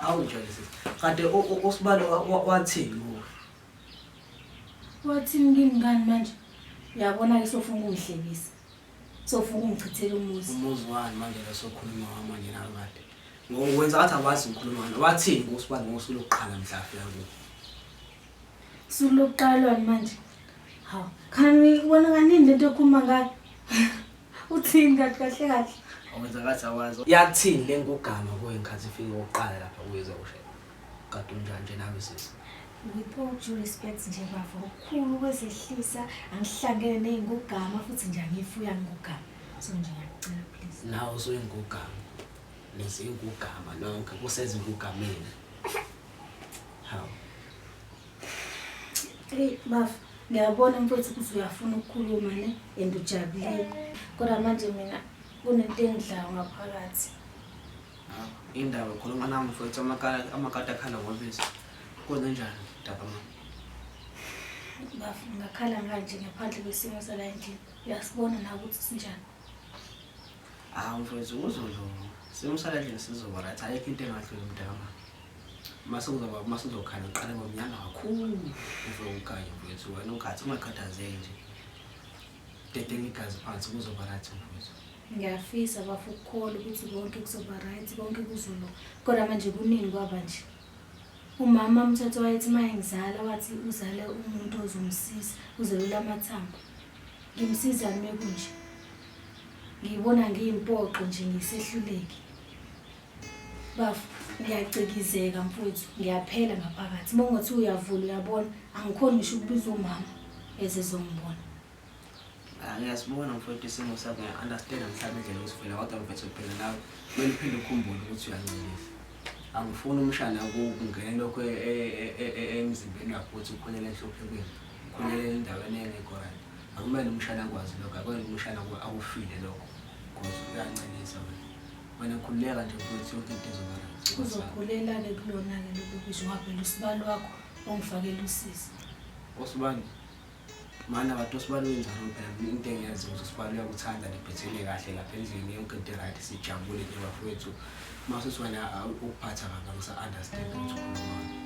awujwayele sisi kade usibalo wathini kuwe wathini kimi ngani manje uyabona-ke sofuna ukungihlekisa sofuna ukungichithela umuzi umuzi wani manje lesokhuluma wamanje nakade ngokwenza ngathi awazi ngikhuluma ngani wathini kusibani ngosuku lokuqala mhla afika kuwe Suluqalwani manje? Hawu, khani wena kanini lento okhuluma ngayo? Uthini kahle kahle kahle? Awenza ngathi awazi. Yakuthini le ngugama kuwe ngikhathi ifike oqala lapha kuyeza ushe. Kade unjanje nawe sisi. With all due respect nje bafo, ukhulu kwezehlisa angihlangene nezingugama futhi nje angifuya ngugama. So nje ngiyacela please. Nawe usuyingugama. Nezingugama nonke kusezingugameni. Hey bafo, ngiyabona mfowethu ukuthi uyafuna ukukhuluma ne and ujabulile. Kodwa manje mina kunento engidlayo ngaphakathi. Indaba khuluma nami mfowethu amakala amakati akhala ngobisi. Kwenze njani daba mama? Bafo, ngakhala nganje ngaphandle kwesimo sala endlini. Uyasibona na ukuthi sinjani. Hawu mfowethu kuzodlula. Simusala endlini sizoba right. Ayikho into engadluli mntaka. Mase kuzoba mase uzokhanya uqale ngomnyanga kakhulu. Ufike ukhanye mfowethu wena ukhathi ungakhathazeki nje. Dede ngigazi phansi kuzoba right mfowethu. Ngiyafisa bafu ukukholwa ukuthi konke kuzoba right, konke kuzolo. Kodwa manje kuningi kwaba nje. Umama umthetho wayethi uma engizala wathi uzale umuntu ozomsiza, uzelula amathambo. Ngimsizani mekunje? ngiyibona ngiyimpoqo nje ngisehluleki bafo ngiyacikizeka mfowethu ngiyaphela ngaphakathi uma ungathi uyavula uyabona angikhoni ngisho ukubiza umama ezezongibona ah, ngiyasibona mfowethu isimo sakho ngiya-understanda mhlawumbe indlela osifela kodwa mfethu phela nawe kumele uphinde ukhumbule ukuthi uyancelisa angifuni umshana kungene lokho e, e, e, emzimbeni wakho ukuthi ukhulele enhluphekweni ukhulele endaweni engekho right Akumele umshana akwazi lokho, akumele umshana akufile lokho because uyancelisa wena. Wena khululeka nje mfowethu yonke into izoba right. Uzokhulelake kulona-ke lokhu kusho ngavela usibali wakho ongifakela usisi. Osibani? Mana bathi osibani wenzani phela mina into engiyazi ukuthi usibani uyakuthanda nibhethene kahle lapha endlini yonke into right sijabule nje bafowethu. Mase siwena ukuphatha kabi angisa understand ukuthi ukhulumani.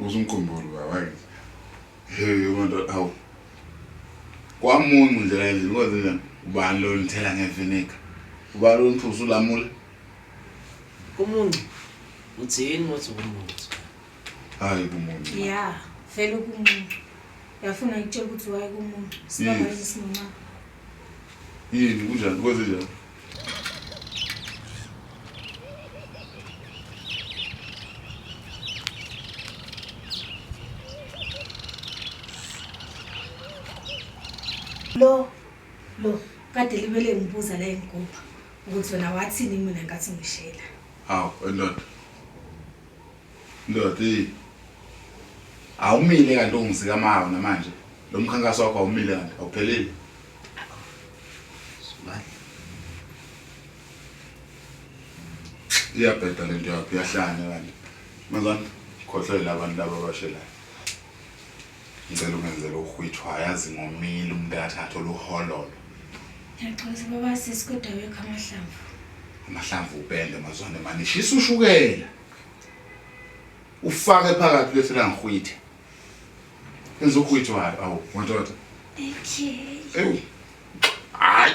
Uzumkhumbula ubaba wakithi. Hey umuntu awu. Kwamuncu nje kanjani kwenze njani? Ubani lo nithela ngevinika? Ubani lo niphuza ulamule? Kumuncu. Uthini wathi kumuncu? Hayi kumuncu. Yeah, vele kumuncu. Yafuna ngitshela ukuthi waye kumuncu. Sibaba yini sinoma? Yini kunjani kwenze njani? lo lo kade libele ngibuza la engigubha ukuthi wena wathini mina ngathi ngishela hawu wendoda Ndoda eyi. Awumile kanti ungizika mawo namanje. Lo mkhankaso wakho awumile kanti awuphelile. Iyabheda lento yakho iyahlanya kanti. Mazani khohlwele abantu laba abashelayo. Ngicela ungenzele uhwithu hayazi ngomile umuntu akathatha oluhololo. Ngiyaxolisa baba sisi kodwa wekho amahlamvu. Amahlamvu upende mazwane mani shisa ushukela. ufake phakathi bese langihwithe enzokhwitho hayi awu madoda okay ewu hayi